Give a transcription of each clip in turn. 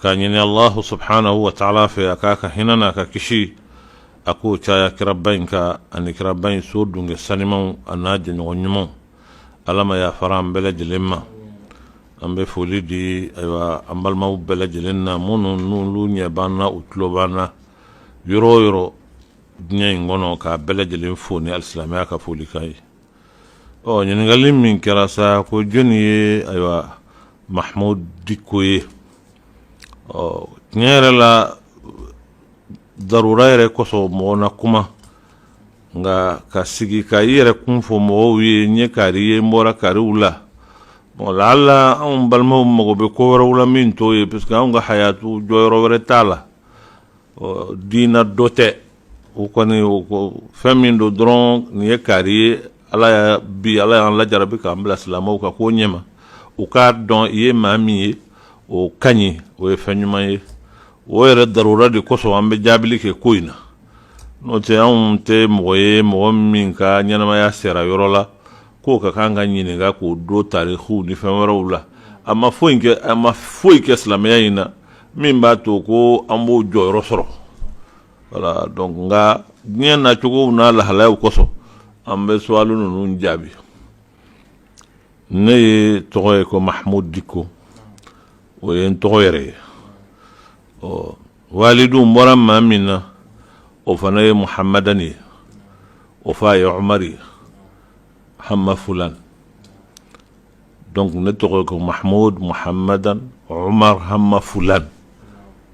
ka ɲini allahu subhanahu wa taala fɛ a k'a ka hinɛ n'a ka kisi a k'o caya kiraba in kan ani kiraba in so dunke sanimaw an'a jɛɲɔgɔn ɲumanw ala ma yafara an bɛɛ lajɛlen ma an bɛ foli di ayiwa an balimaw bɛɛ lajɛlen na minnu n'olu ɲɛ b'an na u tulo b'an na yɔrɔ o yɔrɔ diɲɛ in kɔnɔ k'a bɛɛ lajɛlen fo ni alisilamɛya ka folikan ye ɔ ɲininkali min kɛra sa ko jɔnni ye ayiwa mahamud diko ye ɔ tiɲɛ yɛrɛ la darura yɛrɛ kosɔn mɔgɔ na kuma nka ka sigi ka i yɛrɛ kun fɔ mɔgɔw ye n ye kari ye n bɔra kariw la bon laala anw balimaw mago bɛ ko wɛrɛw la min t'o ye parce que anw ka hayatu jɔyɔrɔ wɛrɛ t'a la diina dɔ tɛ o kɔni fɛn min don dɔrɔn nin ye kari ye ala bi ala y'an lajarabi k'an bila silamɛw ka ko ɲɛma u k'a dɔn i ye maa min ye o ka ɲi o ye fɛn ɲuman ye o yɛrɛ darura de kosɔn an bɛ jaabili kɛ ko in na n'o tɛ anw tɛ mɔgɔ ye mɔgɔ min ka ɲɛnamaya sera yɔrɔ la k'o ka kan ka ɲininka k'o don tariku ni fɛn wɛrɛw la a ma foyi kɛ silamɛya in na min b'a to ko an b'o jɔyɔrɔ sɔrɔ wala donc nka diɲɛ nacogow n'a lahalayaw kosɔn an bɛ suwalu ninnu jaabi ne ye tɔgɔ ye ko mahamudu diko o ye n tɔgɔ yɛrɛ ye ɔ walidu n bɔra maa min na o fana ye muhamadani ye o fa ye umari hama fulani donc ne tɔgɔ ko mahmoud muhammadan omar hamma fulan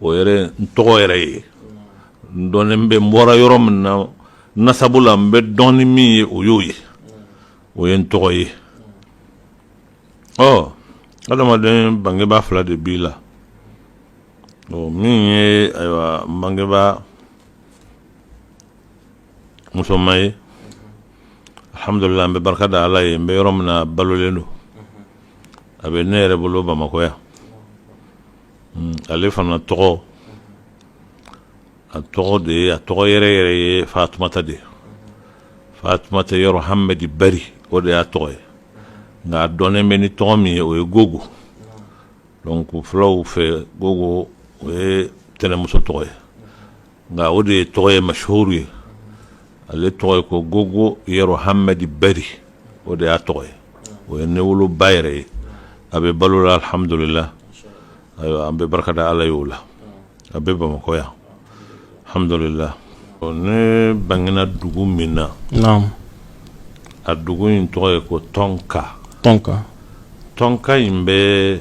o yɛrɛ n tɔgɔ yɛrɛ ye n dɔnnen bɛ n bɔra yɔrɔ min na nasabu la n bɛ dɔn ni min ye o y'o ye o ye n tɔgɔ ye ɔ adamaden bangebaa fila de b'i la ɔ min ye ayiwa n bangebaa musoman ye alhamdulila an bɛ barika da ala ye n bɛ yɔrɔ min na balolen don a bɛ ne yɛrɛ bolo bamakɔ yan hmm, ale fana tɔgɔ a tɔgɔ de ye a tɔgɔ yɛrɛ yɛrɛ ye fatumata de ye fatumata yɔrɔ hamadi bari o de y'a tɔgɔ ye nka a dɔnnen bɛ ni tɔgɔ min ye o ye gogo donc fulaw fɛ gogo o ye tɛnɛmuso tɔgɔ ye nka o de ye tɔgɔ ye mashuru ye ale tɔgɔ ye ko gogo yɔrɔ hamadi bari o de y'a tɔgɔ ye o ye ne woloba yɛrɛ ye a bɛ balo la alihamdulila ayiwa an bɛ barika da ala ye o la a bɛ bamakɔ yan hamdulila ne bangena dugu min na a dugu in tɔgɔ ye ko tɔnka tɔnka in bɛ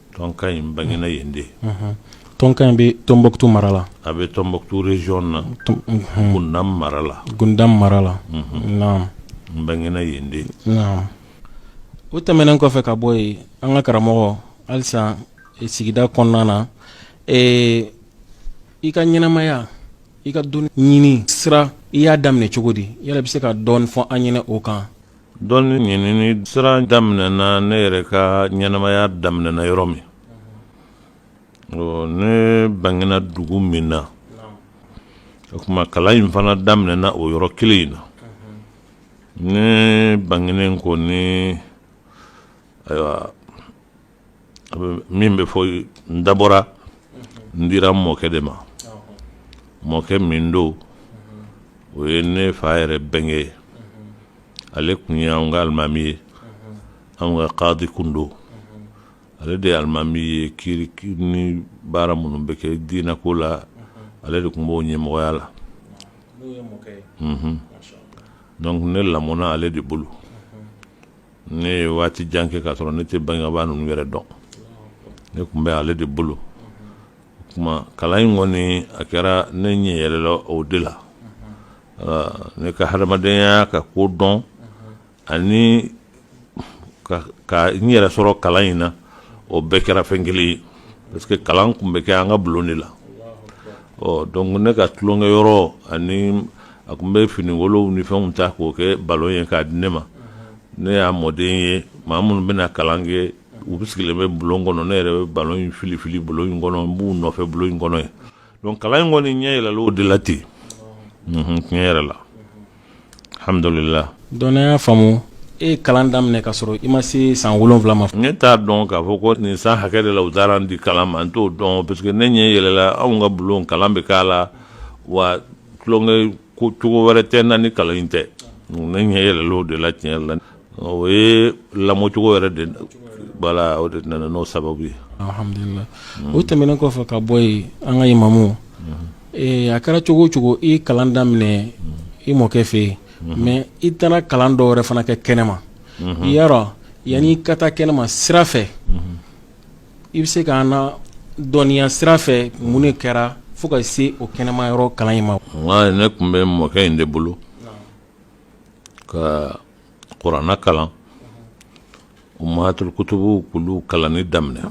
Tɔnka n bangena yen de tɔnka in bɛ Tombouctou mara la a bɛ Tombouctou région na Gundam mara la Gundam mara la naam n bangena yen de o tɛmɛnen kɔfɛ ka bɔ yen an ka karamɔgɔ halisa sigida kɔnɔna na ee i ka ɲɛnamaya i ka dɔnni ɲini sira i y'a daminɛ cogo di yala i bɛ se ka dɔɔni fɔ an ɲɛna o kan dɔnni ɲinini sira daminɛna ne yɛrɛ ka ɲɛnamaya daminɛna yɔrɔ min ne bangena dugu min na o kuma kalan in fana daminɛna o yɔrɔ kelen in na ne bangenen kɔni ayiwa min bɛ fɔ n dabɔra n dira mɔkɛ de ma mɔkɛ min don o ye ne fa yɛrɛ bɛnkɛ ye ale kun ye an ka alimami ye an ka kadi kun don ale de ye alimami ye kiiri ni baara minnu bɛ kɛ diinɛ ko la ale de kun b'o ɲɛmɔgɔya la donc ne lamɔna ale de bolo ne ye waati jan kɛ k'a sɔrɔ ne tɛ bangebaa ninnu yɛrɛ dɔn ne kun bɛ ale de bolo o kuma kalan in kɔni a kɛra ne ɲɛ yɛlɛla o de la ne ka hadamadenya ka ko dɔn ani ka n yɛrɛ sɔrɔ kalan in na o bɛɛ kɛra fɛn kelen ye parce que kalan kun bɛ kɛ an ka bulon de la ɔ donc ne ka tulonkɛ yɔrɔ ani a kun bɛ finikolonw ni fɛnw ta k'o kɛ balon ye k'a di ne ma ne y'a mɔden ye maa minnu bɛna kalan kɛ u bɛ sigilen bɛ bulon kɔnɔ ne yɛrɛ bɛ balon in fili fili bulon in kɔnɔ n b'u nɔfɛ bulon in kɔnɔ yen donc kalan in kɔni n ɲɛ yɛlɛla o de la ten tiɲɛ yɛrɛ la alhamdulillah donc n y'a faamu e ye kalan daminɛ ka sɔrɔ i ma se san wolonwula ma ne t'a dɔn k'a fɔ ko nin san hakɛ de la u taara n di kalan ma n t'o dɔn parce que ne ɲɛ yɛlɛla anw ka bulon kalan bɛ k'a la wa tulonkɛ ko cogo wɛrɛ tɛ n na ni kalan in tɛ ne ɲɛ yɛlɛla o de la tiɲɛ yɛrɛ la o ye lamɔcogo yɛrɛ de voilà o de nana n'o sababu ye alhamdulilayi o tɛmɛnen kɔfɛ ka bɔ yen an ka imamu ee a kɛra cogo o cogo i ye kalan daminɛ i mɔkɛ fɛ yen mais i taara kalan dɔ wɛrɛ fana kɛ kɛnɛma i y'a dɔn yanni i ka taa kɛnɛma sira fɛ i bɛ se ka na dɔnniya sira fɛ mun de kɛra fo ka se o kɛnɛma yɔrɔ kalan in ma walayi ne kun bɛ mɔkɛ in de bolo ka kurana kalan ummahatul kutubu k'olu kalanni daminɛ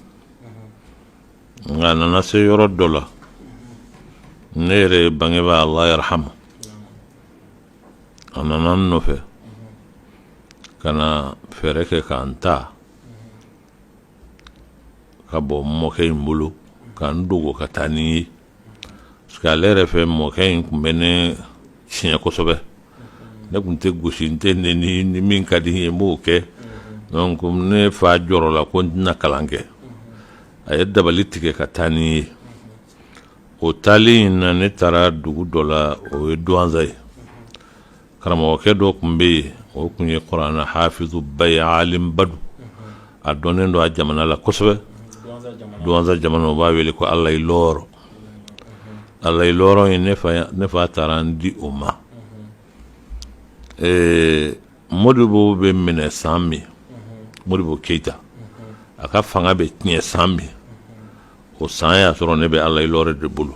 nka a nana se yɔrɔ dɔ la ne yɛrɛ ye bangebaa Allah yarhamu a nana n nɔfɛ ka na fɛɛrɛ kɛ ka n ta ka bɔ n mɔkɛ in bolo ka n dogo ka taa ni n ye parce que ale yɛrɛ fɛ mɔkɛ in tun bɛ ne tiɲɛ kosɛbɛ ne tun tɛ gosi n tɛ neni ni min ka di n ye n b'o kɛ donc ne fa jɔrɔla ko n tɛna kalan kɛ a ye dabali tigɛ ka taa ni n ye o taali in na ne taara dugu dɔ la o ye duwanza ye karamɔgɔkɛ dɔ tun bɛ yen o tun ye kurana hafizuba ye alimba don a dɔnnen don a jamana la kosɛbɛ duwanza jamana o b'a wele ko alayi lɔɔrɔ alayi lɔɔrɔ in ne fa taara n di o ma ee modibo bɛ minɛ san min modibo keyita a ka fanga bɛ tiɲɛ san min o san y'a sɔrɔ ne bɛ alayi lɔɔrɔ de bolo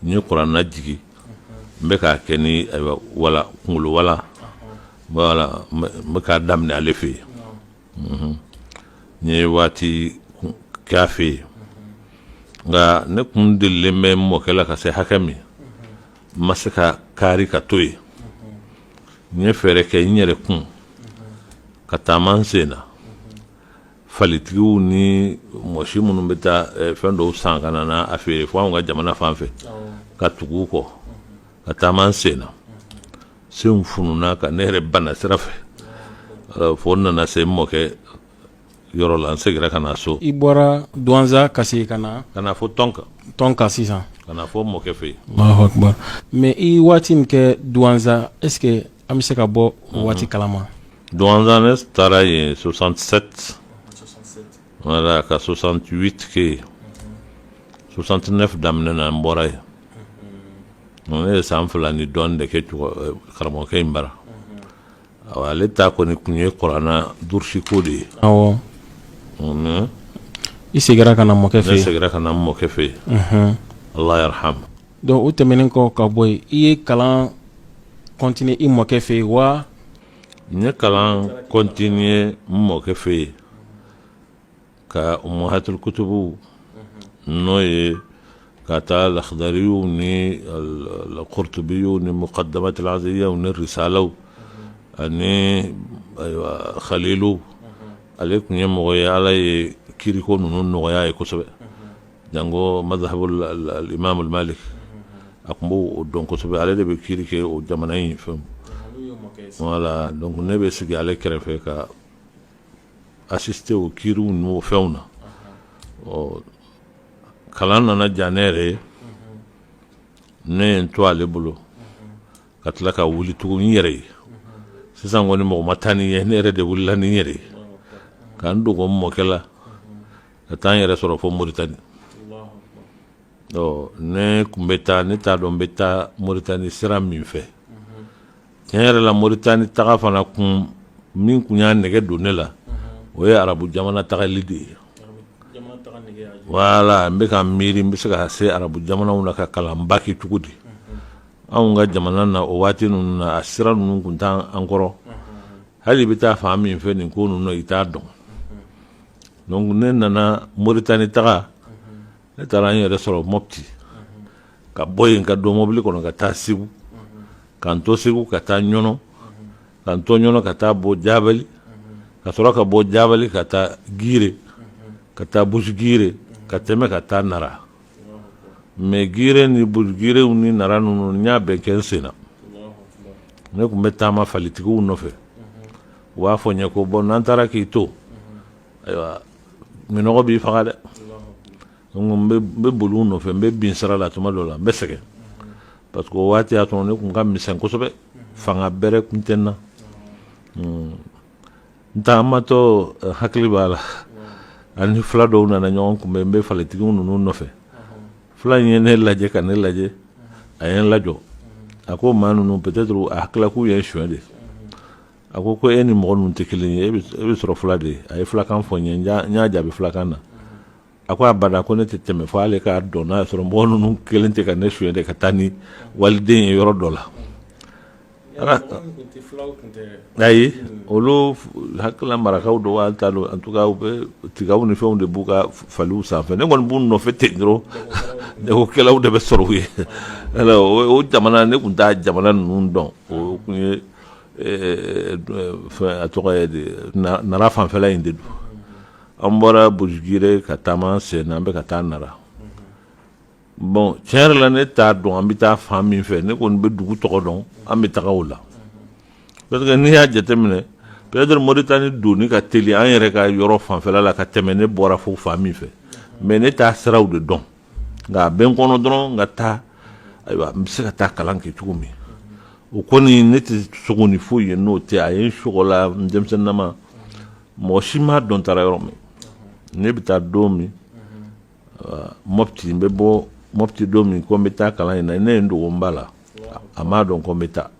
n ye kurana jigin n bɛ k'a kɛ ni ayiwa wala kunkolo wala wala n bɛ- n bɛ k'a daminɛ ale fɛ yen Mhm. n ye waati kun- kɛ a fɛ yen nka ne kun delilen bɛ n mɔkɛ la ka se hakɛ min n ma se ka kaari ka to yen n ye fɛɛrɛ kɛ n yɛrɛ kun ka taama n sen na falitigiw ni mɔsi minnu bɛ taa eh, fɛn dɔw san ka na a feere fo anw ka jamana fan fɛ ka tugu u kɔ ka taama n sen na senw fununa ka ne yɛrɛ bana sira fɛ fo n nana se n mɔkɛ yɔrɔ la n segira ka na so i bɔra duwanza ka se ka na ka na fo tɔnka tɔnka sisan ka na fo mɔkɛ fɛ yen mais i waati min kɛ duwanza est ce que An bɛ se ka bɔ o waati kalama duwanza ne taara yen soixante sept wala ka soixante huit kɛ soixante neuf daminɛ na n bɔra yen ne ye san fila ni dɔɔnin de kɛ karamɔgɔkɛ in bara ale ta kɔni tun ye kurana durusiko de ye i seginna ka na mɔkɛ fɛ yen ne seginna ka na n mɔkɛ fɛ yen ala yarhamu Donc o tɛmɛnen kɔ ka bɔ yen i ye kalan continuer i mɔkɛ fɛ yen wa n ye kalan continuer n mɔkɛ fɛ yen ka ummahatil kutubu n'o ye k'a ta lahadariyu ni lkurutubiyu ni mukaddamatul aziyya ni risalaw ani khalilu ale tun ye mɔgɔ ye ala ye kiiriko ninnu nɔgɔya a ye kosɛbɛ jango mazhabul al- al- imam al malik a tun b'o dɔn kosɛbɛ ale de bɛ kiri kɛ o jamana in fɛn wala donc ne bɛ sigi ale kɛrɛfɛ ka asiste o kiriw n'o fɛnw na ɔ kalan nana diya ne yɛrɛ ye ne ye n to ale bolo ka tila ka wuli tugun n yɛrɛ ye sisan kɔni mɔgɔ ma taa ni n ye ne yɛrɛ de wulila ni n yɛrɛ ye ka n dogo n mɔkɛ la ka taa n yɛrɛ sɔrɔ fo moritani ɔ ne tun bɛ taa ne t'a dɔn n bɛ taa moritani sira min fɛ tiɲɛ yɛrɛ la moritani taga fana kun min tun y'a nɛgɛ don ne la o ye arabu jamana tagali de ye wala n bɛ ka miiri n bɛ se ka se arabu jamanaw na ka kalanba kɛ cogo di anw ka jamana na o waati ninnu na a sira ninnu tun t'an kɔrɔ hali i bɛ taa fan min fɛ nin ko ninnu na i t'a dɔn Donc ne nana Mauritanie taga ne taara n yɛrɛ sɔrɔ Mopti ka bɔ yen ka don mobili kɔnɔ ka taa Segu ka n to Segu ka taa Ɲɔnɔ ka n to Ɲɔnɔ ka taa bɔ Jabali ka sɔrɔ ka bɔ Jabali ka taa Gire ka taa Bujigire ka tɛmɛ ka taa Nara mais Gire ni Bujigire ni Nara ninnu n y'a bɛɛ kɛ n sen na ne tun bɛ taama falitigiw nɔfɛ. u b'a fɔ n ye ko bon n'an taara k'i to ayiwa minɔgɔ b'i faga dɛ n bɛ boli u nɔfɛ n bɛ bin sara la tuma dɔ la n bɛ sɛgɛn parce que o waati y'a sɔrɔ ne tun ka misɛn kosɛbɛ fanga bɛrɛ tun tɛ n na hmm. n taamatɔ eh, hakili b'a la an ni fila dɔw nana ɲɔgɔn kunbɛn n bɛ falitigiw ninnu nɔfɛ fila in ye ne lajɛ ka ne lajɛ a ye n lajɔ a ko maa ninnu peut-être a hakilila k'u ye n suɲɛ de a ko ko e ni mɔgɔ ninnu tɛ kelen ye e bɛ sɔrɔ fila de ye a ye filakan fɔ n ye n y'a jaabi filakan na a ko abada ko ne tɛ tɛmɛ fo ale k'a dɔn n'a sɔrɔ mɔgɔ ninnu kelen tɛ ka ne suɲɛ de ka taa ni waliden ye yɔrɔ dɔ la ayi olu hakilila marakaw don wa n t'a dɔn en tout cas u bɛ tigaw ni fɛnw de b'u ka faliw sanfɛ ne kɔni b'u nɔfɛ ten dɔrɔn jagokɛlaw de bɛ sɔrɔ u ye o jamana ne tun t'a jamana ninnu dɔn o tun ye a tɔgɔ nara fanfɛla in de don an bɔra bujigire ka taama sen na an bɛ ka taa nara bon tiɲɛ yɛrɛ la ne t'a dɔn an bɛ taa fan min fɛ ne kɔni bɛ dugu tɔgɔ dɔn an bɛ taga o la n'i y'a jateminɛ peut-être moritani don ka teli an yɛrɛ ka yɔrɔ fanfɛla la ka tɛmɛ ne bɔra fo fan min fɛ mais ne t'a siraw de dɔn nka a bɛ n kɔnɔ dɔrɔn n ka taa ayiwa n bɛ se ka taa kalan kɛ cogo min o kɔni ne tɛ sugo ni foyi ye n'o tɛ a ye sogola denmisɛnninama mɔgɔ si m'a dɔn taara yɔrɔ min ne bɛ taa don min mɔti n bɛ bɔ mɔti don min ko n bɛ taa kalan in na ne ye n dogo n ba la a m'a dɔn ko n bɛ taa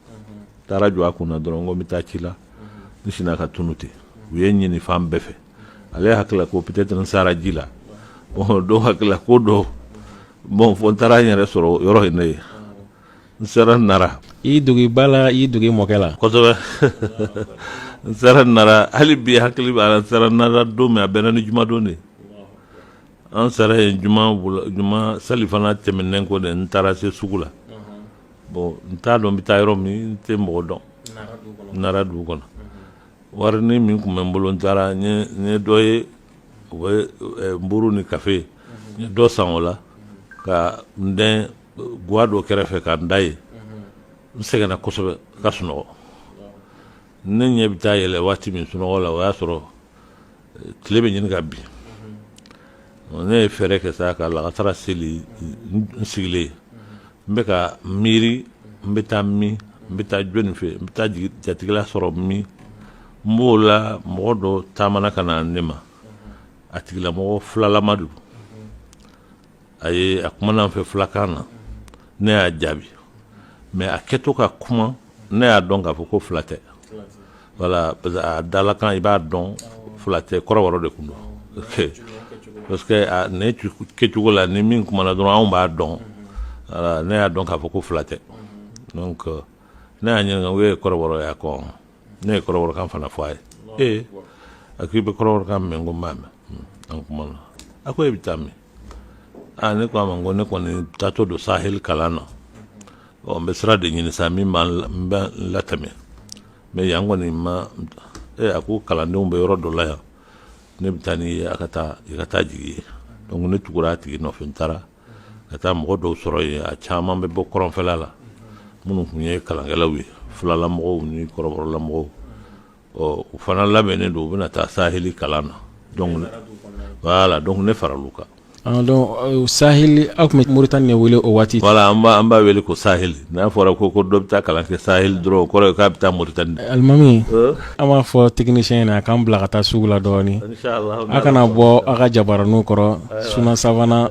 taara jɔ a kunna dɔrɔn ko n bɛ taa ci la n sinna ka tunu ten u ye n ɲini fan bɛɛ fɛ ale hakilila ko peut-être n sara ji la dɔw hakilila ko dɔ bon fo n taara n yɛrɛ sɔrɔ yɔrɔ in ne ye n sera nara i dogi ba la i dogi mɔkɛ la kosɛbɛ n sera nara hali bi hakili b'a la n sera nara don min a bɛnna ni jumadon de ye an sera yen juma juma salifana tɛmɛnen kɔ de n taara se sugu la bon n t'a dɔn n bɛ taa yɔrɔ min n tɛ mɔgɔ dɔn nara dugu kɔnɔ warinin min tun bɛ n bolo n taara n ye dɔ ye o bɛ nburu ni kafe n ye dɔ san o la ka n dɛn gwa dɔ kɛrɛfɛ ka n da yen n sɛgɛnna kosɛbɛ ka sunɔgɔ ne ɲɛ bɛ taa yɛlɛ waati min sunɔgɔ la o y'a sɔrɔ eh, tile bɛ ɲini ka bin ne ye fɛɛrɛ kɛ sa ka lagansara seli n sigilen n bɛ ka miiri n bɛ taa min n bɛ taa jɔni fɛ n bɛ taa jatigila sɔrɔ min n b'o la mɔgɔ dɔ taamana ka na ne ma a tigilamɔgɔ filalama don a ye a kumana n fɛ filakan na ne y'a jaabi mais a kɛtɔ ka kuma ne y'a dɔn k'a fɔ ko fila tɛ voilà parce que a dalakan i b'a dɔn fila tɛ kɔrɔbɔrɔ de tun don parce que ne kɛcogo la ni min kumana dɔrɔn anw b'a dɔn ne y'a dɔn k'a fɔ ko fila tɛ donc euh, ne y'a ɲininka o ye kɔrɔbɔrɔ ye a ko ɔn ne ye kɔrɔbɔrɔkan fana fɔ a ye ee a ko i bɛ kɔrɔbɔrɔkan mɛn ko n b'a mɛn an kumana a ko e bɛ taa min aa ne ko a ma ko ne kɔni taatɔ don sahel kalan na ɔ n bɛ sira de ɲini sa min b'an n bɛ n latɛmɛ mais yan kɔni ma ee a ko kalandenw bɛ yɔrɔ dɔ la yan ne bɛ taa n'i ye a ka taa i ka taa jigi yen donc ne tugura a tigi nɔfɛ n taara ka taa mɔgɔ dɔw sɔrɔ yen a caman bɛ bɔ kɔrɔnfɛla la minnu tun ye kalankɛlaw ye filalamɔgɔw ni kɔrɔbɔrɔlamɔgɔw ɔ u fana labɛnnen don u bɛna taa saheli kalan na donc voilà donc ne faral'u kan Ah, donc euh, saheli aw tun bɛ moritani de wele o waati voilà an b'a an b'a wele ko saheli n'a fɔra ko ko dɔ bɛ taa kalan kɛ saheli dɔrɔn o kɔrɔ ye k'a bɛ taa moritani de alimami Euh, an b'a fɔ technicien ɲɛna a k'an bila ka taa sugu la dɔɔni inchallah a kana bɔ a ka jabaraninw kɔrɔ sunna savana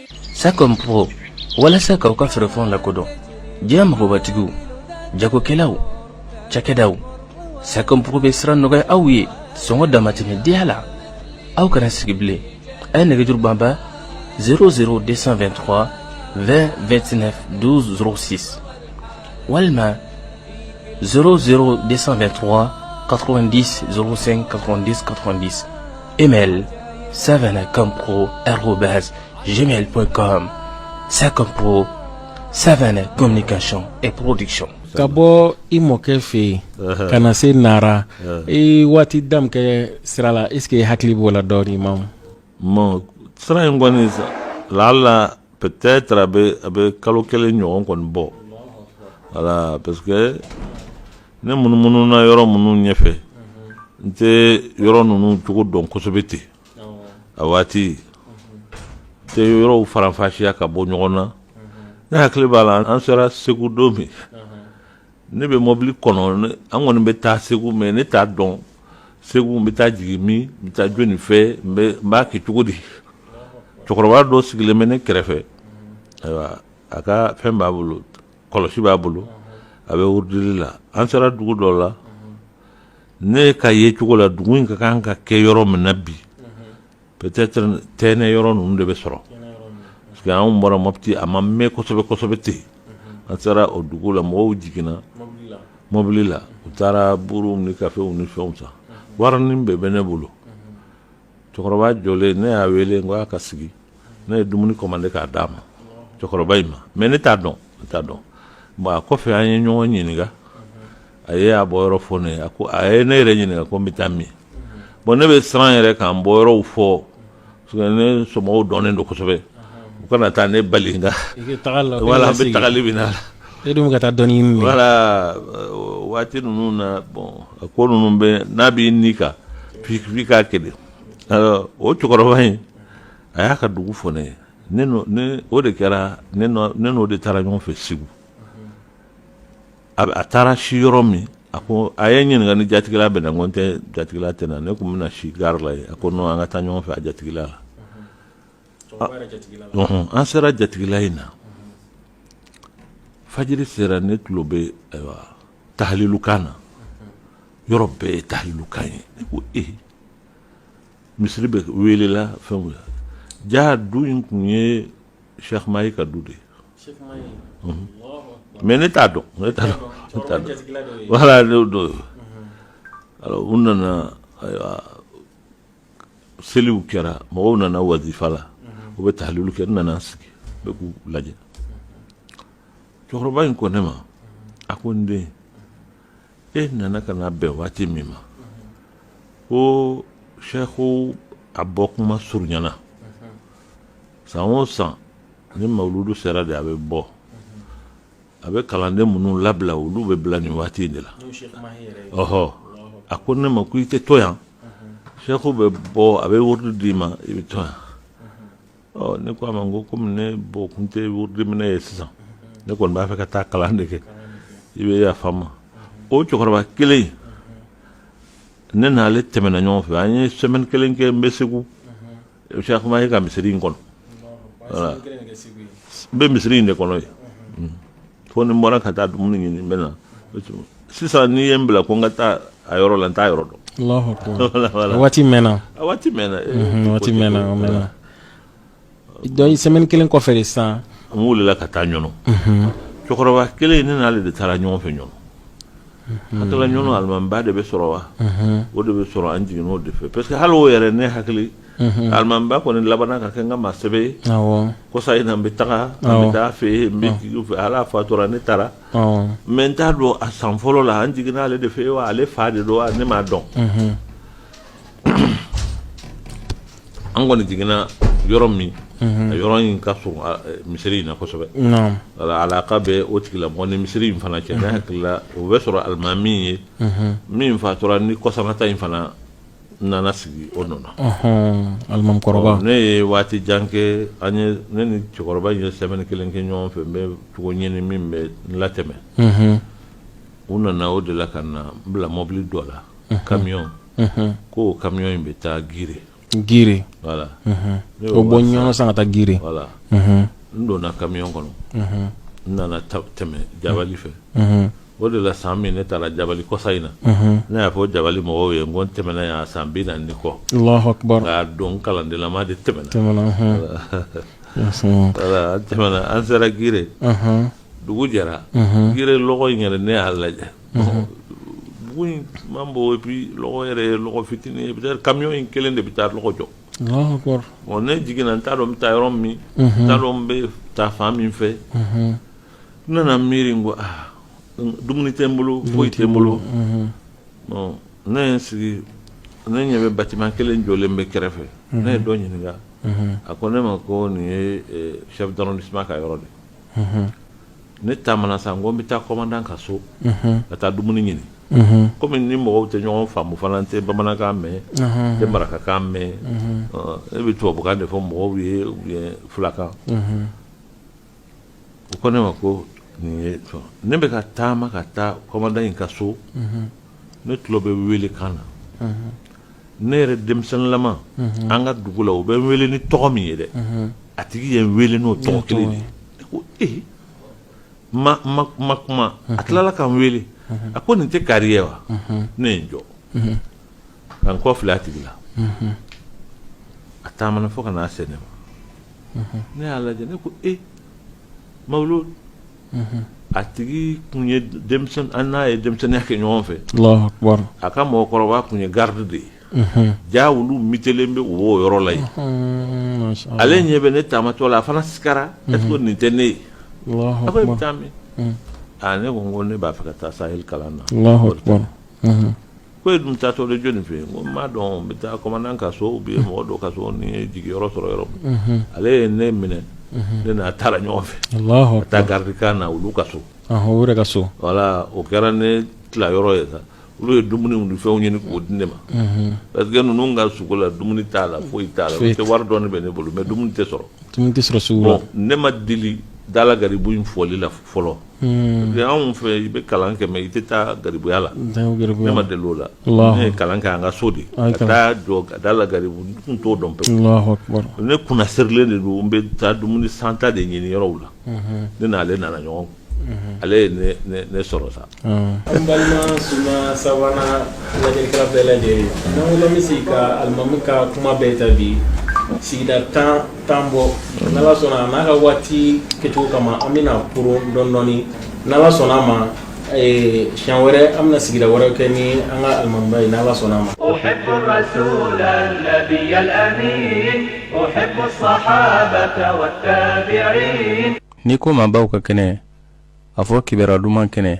Sakɔɔgɔ walasa k'aw ka fɛɛrɛfɛnw la kodɔn diɲɛ mɔgɔbatigiw jagokɛlaw cɛkɛdaw sakɔɔgɔ bɛ siran nɔgɔya aw ye sɔngɔ damatɛmɛ deya la aw kana sigi bilen a ye nɛgɛjuru banba s de sanfɛ2 tɔgɔ 2 2tinɛsi walima s de sanfɛ2 tɔgɔ katodi ssen kataditadi Email savanacompro@gmail.com Sacompro, Savana Communication et Production. Ka bɔ i mɔkɛ fɛ yen uh-huh. ka na se Nara uh-huh. i waati dama kɛ sira la est ce que i hakili b'o la dɔɔnin ma bon sira in kɔni lala peut-être a bɛ a bɛ kalo kelen ɲɔgɔn kɔni bɔ voilà parce que ne munumununa yɔrɔ minnu ɲɛfɛ n tɛ yɔrɔ ninnu cogo dɔn kosɛbɛ ten a waati n tɛ yɔrɔw faranfasiya ka bɔ ɲɔgɔn na ne hakili b'a la an sera segu don min ne bɛ mɔbili kɔnɔ an kɔni bɛ taa segu mais ne t'a dɔn segu n bɛ taa jigin min n bɛ taa jɔnni fɛ n b'a kɛ cogo di cɛkɔrɔba dɔ sigilen bɛ ne kɛrɛfɛ ayiwa a ka fɛn b'a bolo kɔlɔsi b'a bolo a bɛ wurudili la an sera dugu dɔ la ne ka ye cogo la dugu in ka kan ka kɛ yɔrɔ min na bi Peut-être Tɛnɛ yɔrɔ ninnu de bɛ sɔrɔ parce que anw bɔra Mopti a ma mɛn kosɛbɛ kosɛbɛ ten, an sera o dugu la mɔgɔw jiginna mɔbili la u taara buuruw ni kafew ni fɛnw san warinin bɛɛ bɛ ne bolo cɛkɔrɔba jɔlen ne y'a wele n ko a ka sigi ne ye dumuni commandé k'a d'a ma cɛkɔrɔba in ma mais ne t'a dɔn ne t'a dɔn bon a kɔfɛ an ye ɲɔgɔn ɲininka a ye a bɔyɔrɔ fɔ ne ye a ko a ye ne yɛrɛ ɲininka ko n bɛ taa min bon ne bɛ siran yɛrɛ k'an bɔyɔrɔw fɔ ne somɔgɔw dɔnnen don kosɛbɛ u kana taa ne bali voilà an bɛ tagali min na e dun ka taa dɔnni ɲini voilà waati ninnu na bon a ko ninnu bɛ n'a b'i ni kan f'i k'a kɛ de o cɛkɔrɔba in a y'a ka dugu fɔ ne ye o de kɛra ne n'o de taara ɲɔgɔn fɛ segu a a taara si yɔrɔ min a ko a ye ɲininka ni jatigila bɛ n na n ko n tɛ jatigila tɛ n na ne tun bɛna na si gare la yen a ko an ka taa ɲɔgɔn fɛ a jatigila la an sera jatigila in na fajiri sera ne tulo bɛ ayiwa tahalilukan na yɔrɔ bɛɛ ye tahalilukan ye ne ko e misiri bɛ wele la fɛn jaa du in tun ye sɛkuma ye ka du de ye Mhm. mais ne t'a dɔn ne t'a dɔn ne t'a dɔn voilà ne dɔn ye alors u nana ayiwa seliw kɛra mɔgɔw nana wazifa la u bɛ tahalilu kɛ n nana sigi n bɛ k'u lajɛ cɛkɔrɔba in ko ne ma a ko n den e nana ka na bɛn waati min ma ko Cheikhu a bɔ kuma surunyana san o san ni mawuludu sera de a bɛ bɔ a bɛ kalanden minnu labila olu bɛ bila nin waati in de la ɔhɔ a ko ne ma ko i tɛ to yan Cheikhu bɛ bɔ a bɛ wurudi d'i ma i bɛ to yan ɔ ne ko a ma n ko komi ne bɔ kun tɛ wurudi minɛ ye sisan ne kɔni b'a fɛ ka taa kalan de kɛ i bɛ yafa n ma o cɛkɔrɔba kelen ne n'ale tɛmɛna ɲɔgɔn fɛ an ye semaine kelen kɛ n bɛ segu Cheikh Mahi ka misiri in kɔnɔ voilà n bɛ misiri in de kɔnɔ ye fo ni n bɔra ka taa dumuni ɲini n bɛ na sisan n'i ye n bila ko n ka taa a yɔrɔ la n t'a yɔrɔ dɔn Allahu akbar. Voilà, voilà. A waati mɛnna a waati mɛnna eh, Mhm, a waati mɛnna a mɛnna donc semaine kelen kɔfɛ de sisan n wulila ka taa ɲɔnɔ cɛkɔrɔba kelen ne n'ale de taara ɲɔgɔn fɛ ɲɔnɔ hakilila ɲɔnɔ alimamiba de bɛ sɔrɔ wa o de bɛ sɔrɔ an jiginn'o de fɛ parce que hali o yɛrɛ ne hakili alimamiba kɔni labanna ka kɛ n ka maa sɛbɛ ye kɔsa in na n bɛ taga n bɛ taa fɛ yen n bɛ fɛ ale fatura ne taara mais n t'a dɔn a san fɔlɔ la an jiginna ale de fɛ yen wa ale fa de don wa ne m'a dɔn an kɔni jiginna yɔrɔ min mhm. a yɔrɔ in ka surun misiri in na kosɛbɛ alaka bɛ o tigilamɔgɔ ni misiri in fana cɛ ne mhm. hakilila o bɛ sɔrɔ alimami ye mhm. min fatura ni kɔsanata in fana nana sigi o nɔ na ne ye waati jan kɛ an ye ne ni cɛkɔrɔba in ye semaine kelen kɛ ɲɔgɔn fɛ n bɛ cogo ɲini min bɛ n latɛmɛ U nana o de la ka na n bila mɔbili dɔ la camion ko o camion in bɛ taa gire gire voilà o bɔ ɲɔnɔ sa ka taa gire voilà n donna camion kɔnɔ n nana tɛmɛ jabali fɛ o de la san min ne taara jabali kɔsa in na ne y'a fɔ jabali mɔgɔw ye n ko n tɛmɛna yan san binaani ni kɔ a don n kalandenlama de tɛmɛna an tɛmɛna an sera gire dugu jɛra Mhm. gire lɔgɔ in yɛrɛ ne y'a lajɛ dugu in man bon et puis lɔgɔ yɛrɛ ye lɔgɔ fitinin ye peut-être camion in kelen de bɛ taa lɔgɔ jɔ Allahu akbar. bon ne jiginna n t'a dɔn n bɛ taa yɔrɔ min n t'a dɔn n bɛ taa fan min fɛ Mhm. n nana miiri n ko ah n- dumuni tɛ n bolo foyi tɛ n bolo Mhm. bon ne ye n sigi ne ɲɛ bɛ bâtiment kelen jɔlen bɛ kɛrɛfɛ ne ye dɔ ɲininka Mhm. a ko ne ma ko nin ye eh, chef d'arrondissement ka yɔrɔ de ye ne taamana sa n ko n bɛ taa kɔmandan ka so ka taa dumuni ɲini kɔmi ni mɔgɔw tɛ ɲɔgɔn faamu fana n tɛ bamanankan mɛn n tɛ marakakan mɛn ne bɛ tubabukan de fɔ mɔgɔw ye fulakan u ko ne ma ko nin ne bɛ ka taama ka taa kɔmandan in ka so ne tulo bɛ wele kan na ne yɛrɛ denmisɛnninlama an ka dugu la u bɛ n wele ni tɔgɔ min ye dɛ a tigi ye n wele n'o tɔgɔ kelen de ye ko ee n ma kuma a tilala ka n wele a ko nin tɛ kari ye wa ne ye n jɔ ka n kɔ filɛ a tigi la a taamana fo ka na se ne ma ne y'a lajɛ ne ko ee mawuludu a tigi kun ye denmisɛn an n'a ye denmisɛnninya kɛ ɲɔgɔn fɛ a ka mɔgɔkɔrɔba kun ye garidi de ye ja olu mitelen bɛ o yɔrɔ la yen ale ɲɛ bɛ ne taamatɔ la a fana sigara est-ce que nin tɛ ne ye a ko e bɛ taa min ne ko n ko ne b'a fɛ ka taa saheli kalan na ko e dun taatɔ de jɔni fɛ yen n ko n m'a dɔn n bɛ taa kɔmandan ka so ou bien mɔgɔ dɔ ka so ni n ye jigiyɔrɔ sɔrɔ yɔrɔ min ale ye ne minɛ ne n'a taara ɲɔgɔn fɛ ka taa garidikan na olu ka so o ka so voilà o kɛra ne tila yɔrɔ ye sa olu ye dumuni ni fɛnw ɲini k'o di ne ma parce que ninnu ka sugu la dumuni t'a la foyi t'a la tɛ wari dɔɔni bɛ ne bolo mais dumuni tɛ sɔrɔ sugu la ne ma deli dala garibu in fɔli la fɔlɔ Hmm. Anw fɛ i bɛ kalan kɛ mais i tɛ taa garibuya la ne ma deli o la ne ye kalan kɛ an ka so de ka taa jɔ da la garibu n tun t'o dɔn pewu ne kunna sirilen de don n bɛ taa dumuni santa de ɲini yɔrɔw la hmm. ne n'ale nana ɲɔgɔn hmm. ale ye ne sɔrɔ sa an ah. balima suma sabanan lajɛlikɛla bɛɛ lajɛlen n'an ko bɛ se ka alimami ka kuma bɛɛ ta bi sigida tan tan bɔ n'ala sɔnna n'a ka waati kɛcogo kama an bɛna kuru dɔndɔɔni n'ala sɔnna a ma siɲɛ wɛrɛ an bɛna sigida wɛrɛ kɛ ni an ka alimamiba ye n'ala sɔnna a ma n'i ko maabaw ka kɛnɛ a fɔ kibaruya duman kɛnɛ